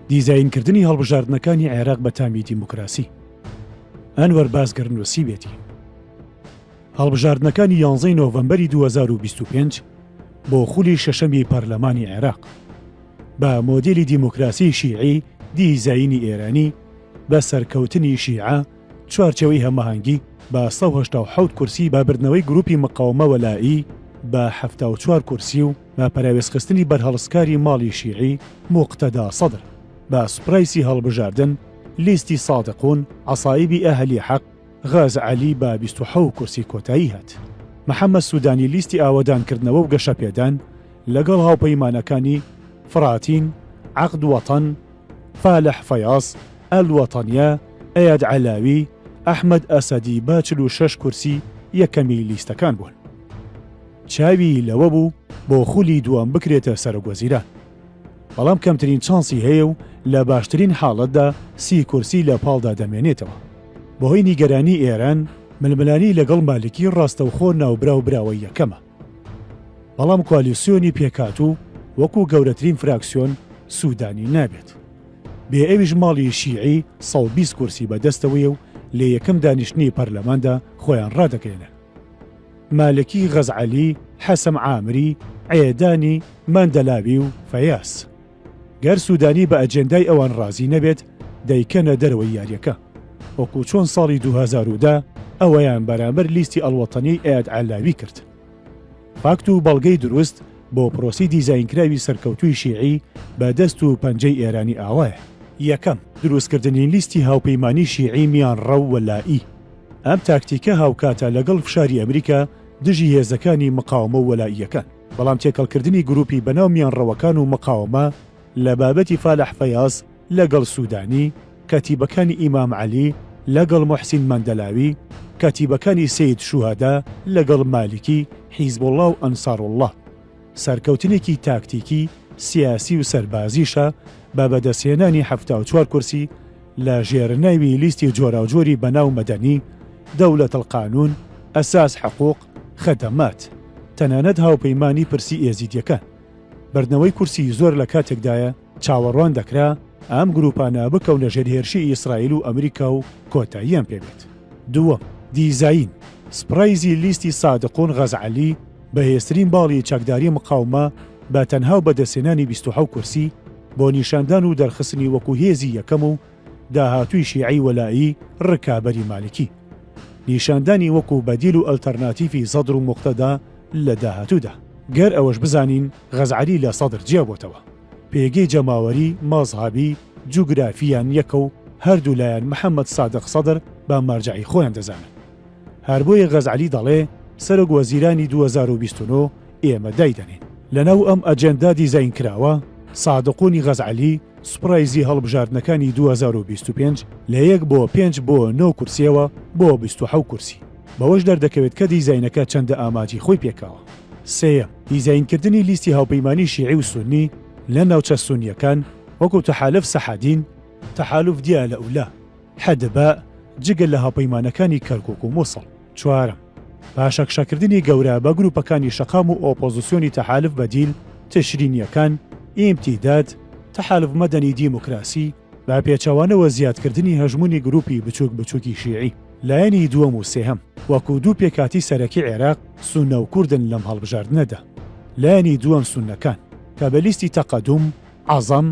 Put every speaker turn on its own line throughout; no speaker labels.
دیزاینکردنی هەڵبژاردنەکانی عێراق بە تامی دیموکراسی ئەنوەر بازگەر نووسیوێتی هەڵبژاردنەکانی یانزەی نۆڤەمبەری 2025 بۆ خولی شەشەمی پەرلەمانی عێراق بە مۆدیلی دیموکراسی شیعی دیزایینی ئێرانی بە سەرکەوتنی شیعە چوارچێوەی هەماهەنگی بە سەد و هەشتا و حەوت کورسی بە بردنەوەی گروپی مقاومە وەلائی بە حەفتا و چوار کورسی و بە پەراوێزخستنی بەرهەڵستکاری ماڵی شیعی موقتەدا سەدر بە سوپرایسی هەڵبژاردن لیستی سادقون عەسائیبی ئەهلی حەق غاز عەلی بە بیست و حەوت کورسی کۆتایی هات. محەمەد سودانی لیستی ئاوەدانکردنەوە و گەشەپێدان لەگەڵ هاوپەیمانەکانی فراتین، عەقد وەتەن، فالح فەیاز، ئەلوەتەنیە، ئەیاد عەلاوی، ئەحمەد ئەسەدی بە چل و شەش کورسی یەکەمی لیستەکان بوون. چاوی لەوە بوو بۆ خولی دووەم بکرێتە سەرۆکوەزیران. بەڵام کەمترین چانسی هەیە و لە باشترین حاڵەتدا سی کورسی لە پاڵدا دەمێنێتەوە. بەهۆی نیگەرانی ئێران، ململانێی لەگەڵ مالکی ڕاستەوخۆ ناوبراو براوەی یەکەمە. بەڵام کوالیسیۆنی پێکهاتوو وەکو گەورەترین فراکسیۆن سوودانی نابێت. بێ ئەویش ماڵی شیعی سەد و بیست کورسی بەدەستەوەیە و لە یەکەم دانیشتنی پەرلەماندا خۆیان ڕادەگەیەنن. مالکی، غەزعەلی، حەسەم عامری، عێدانی، مەندەلاوی و فەیاس. گەر سودانی بە ئەجێندای ئەوان رازی نەبێت دەیکەنە دەرەوەی یاریەکە وەکو چۆن ساڵی دوو هەزار و دە ئەویان بەرامبەر لیستی ئەڵوەتەنیی ئەیاد عەلاوی کرد. فاکت و بەڵگەی دروست بۆ پرۆسی دیزاینکراوی سەرکەوتووی شیعی بە دەست و پەنجەی ئێرانی ئاوایە. یەکەم، دروستکردنی لیستی هاوپەیمانی شیعی میانڕەو و لایی. ئەم تاکتیکە هاوکاتە لەگەڵ فشاری ئەمریکا دژی هێزەکانی مقاومە و وەلائییەکان. بەڵام تێکەڵکردنی گروپی بەناو میانڕەوەکان و مقاوەمە لە بابەتی فالح فەیاز لەگەڵ سودانی، کەتیبەکانی ئیمام عەلی لەگەڵ موحسین مەندەلاوی، کەتیبەکانی سەید شوهەدا لەگەڵ مالیکی، حیزبوڵا و ئەنساروڵا. سەرکەوتنێکی تاکتیکی، سیاسی و سەربازیشە بە بەدەستهێنانی حەفتا و چوار کورسی لە ژێرناوی لیستی جۆراوجۆری بەناو مەدەنی، دەولەتەلقانون، ئەساس حقوق، خەدەمات، تەنانەت هاوپەیمانی پرسی ئێزیدیەکان. بردنەوەی کورسی زۆر لە کاتێکدایە چاوەڕوان دەکرا ئەم گروپانە بکەونە ژێر هێرشی ئیسرائیل و ئەمریکا و کۆتاییان پێ بێت. دووەم، دیزاین، سپڕایزی لیستی سادقون غەزعەلی، بەهێزترین باڵی چەکداری مقاومە بە تەنها و بەدەستهێنانی بیست و حەوت کورسی، بۆ نیشاندان و دەرخستنی وەکو هێزی یەکەم و، داهاتووی شیعەی وەلائی ڕکابەری مالکی. نیشاندانی وەکو بەدیل و ئەلتەرناتیڤی سەدر و موقتەدا لە داهاتوودا. گەر ئەوەش بزانین غەزعەلی لە سەدر جیابۆتەوە. پێگەی جەماوەری، مەزهەبی، جوگرافییان یەکە و هەردوولایان محەمەد سادق سەدر بە مەرجەعی خۆیان دەزانن. هەربۆیە غەزعەلی دەڵێ سەرۆک وەزیرانی دوو هەزار و بیست و نۆ ئێمە دایدەنێین. لەناو ئەم ئەجێندا دیزاینکراوە، سادق و نیغەز عەلی سوپرایزی هەڵبژاردنەکانی دوو هەزار و بیست و پێنج لە یەک بۆ پێنج بۆ نۆ کورسییەوە بۆ بیست و حەوت کورسی بەوەش دەردەکەوێت کە دیزاینەکە چەندە ئاماجی خۆی پێکاوە. سێیەم، دیزاینکردنی لیستی هاوپەیمانی شیعی و سوننی لە ناوچە سوننییەکان وەکو تەحالف سەحادین، تەحالف دیالە و لە، حدباء، جگە لە هاوپەیمانەکانی کەرکوک و موسڵ. چوارەم، پاشەکشەکردنی گەورە بە گروپەکانی شەقام و ئۆپۆزسیۆنی تەحالف بەدیل، تشرینییەکان، ئیمتیداد، تەحالف مەدەنی دیموکراسی، بە پێچەوانەوە زیادکردنی هەژموونی گروپی بچووک بچووکی شیعی، لایەنی دووەم و سێهەم، وەکو دوو پێکهاتی سەرەکی عێراق، سوننە و کوردن لەم هەڵبژاردنەدا. لایەنی دووەم سوننەکان، کە بە لیستی تەقەدوم، عەزەم،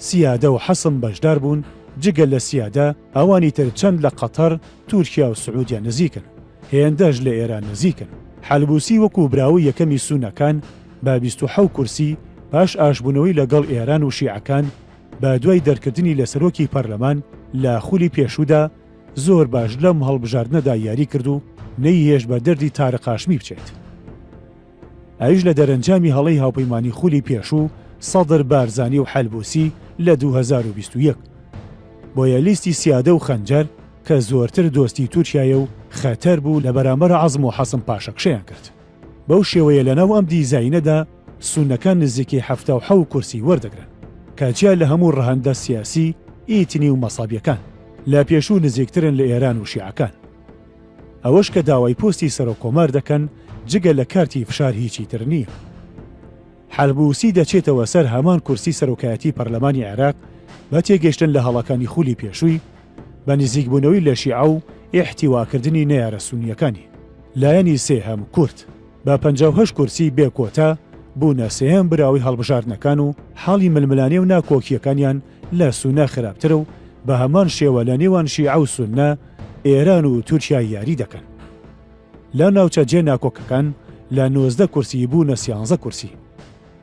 سیادە و حەسم بەشدار بوون، جگە لە سیادە ئەوانی تر چەند لە قەتەر، تورکیا و سعودیە نزیکن، هێندەش لە ئێران نزیکن. حەلبوسی وەکوو براوەی یەکەمی سونەکان بە بیست و حەوت کورسی، پاش ئاشبوونەوەی لە گەڵ ئێران و شیعەکان، بە دوای دەرکردنی لە سەرۆکی پەرلەمان لە خولی پێشوودا، زۆر باش لەم هەڵبژاردنەدا یاری کرد و نەیهێشت بە دەردی تارق هاشمی بچێت. ئەویش لە دەرەنجامی هەڵەی هاوپەیمانی خولی پێشوو سەدر بارزانی و حەلبوسی لە دوو هەزار و بیست و یەک. بۆیە لیستی سیادە و خەنجەر کە زۆرتر دۆستی تورکیایە و خەتەر بوو لە بەرامبەر عەزم و حەسم پاشەکشەیان کرد. بەو شێوەیە لەناو ئەم دیزاینەدا سونەکان نزیکەی حەفتا و حەو کورسی وەردەگرن کە جیا لە هەموو ڕەهەندە سیاسی، ئیتنی و مەسەبیەکان لە پێشوو نزیکترن لە ئێران و شیعەکان. ئەوەش کە داوای پۆستی سەرۆک کۆمار دەکەن جگە لە کارتی فشار هیچی تر نییە. حەلبووسی دەچێتەوە سەر هەمان کورسی سەرۆکایەتی پەرلەمانی عێراق بە تێگەشتن لە هەڵەکانی خولی پێشووی بە نزیکبوونەوەی لە شیعە و ئیحتیواکردنی نەیارە سونییەکانی. لایەنی سێهەم، کورد، بە پەنجا و هەشت کورسی بێ کۆتا بوونە سێهەم براوەی هەڵبژاردنەکان و حاڵی ململانێ و ناکۆکییەکانیان لە سونە خراپترە و بە هەمان شێوە لە نێوان شیعە و سونە ئێران و تورکیا یاری دەکەن. لە ناوچە جێ ناکۆکەکان لە نۆزدە کورسی بوونە سیانزە کورسی.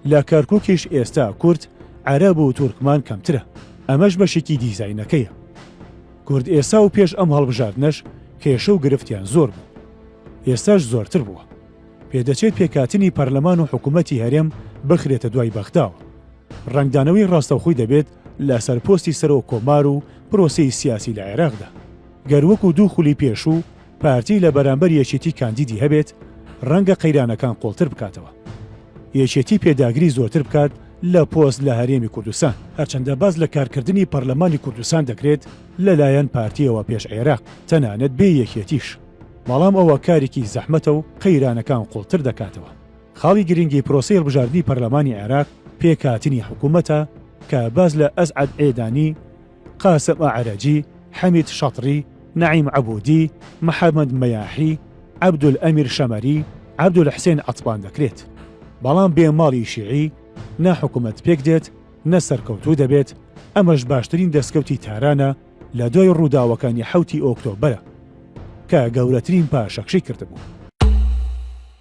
لە کەرکوکیش ئێستا کورد، عەرەب و تورکمان کەمترە. ئەمەش بەشێکی دیزاینەکەیە. کورد ئێستا و پێش ئەم هەڵبژاردنەش کێشە و گرفتیان زۆر بوو. ئێستاش زۆرتر بووە. پێدەچێت پێکهاتنی پەرلەمان و حکوومەتی هەرێم بخرێتە دوای بەغداوە. ڕەنگدانەوەی ڕاستەوخۆی دەبێت لەسەر پۆستی سەرۆک کۆمار و پرۆسەی سیاسی لە عێراقدا. گەر وەکو دوو خولی پێشوو پارتی لە بەرامبەر یەکێتی کاندیدی هەبێت، ڕەنگە قەیرانەکان قوڵتر بکاتەوە. یەکێتی پێداگری زۆرتر بکات لە پۆست لە هەرێمی کوردستان. هەرچەندە باس لە کارکردنی پەرلەمانی کوردستان دەکرێت لەلایەن پارتییەوە پێش عێراق، تەنانەت بێ یەکێتیش، بەڵام ئەوە کارێکی زەحمەتە و قەیرانەکان قوڵتر دەکاتەوە. خاڵی گرنگی پرۆسەی هەڵبژاردنی پەرلەمانی عێراق پێکهاتنی حکوومەتە کە باز لە ئەسعەد عێدانی، قاسم ئەعرەجی، حەمید شەتری، نەعیم عەبوودی، محەممەد مەیاحی، عەبدولئەمیر شەمەری، عەبدولحسێن عەتبان دەکرێت. بەڵام بێ ماڵی شیعی نە حکوومەت پێک دێت، نە سەرکەوتوو دەبێت، ئەمەش باشترین دەستکەوتی تارانە لە دوای ڕووداوەکانی حەوتی ئۆکتۆبەرە کە گەورەترین پاشەکشەی کردبوو.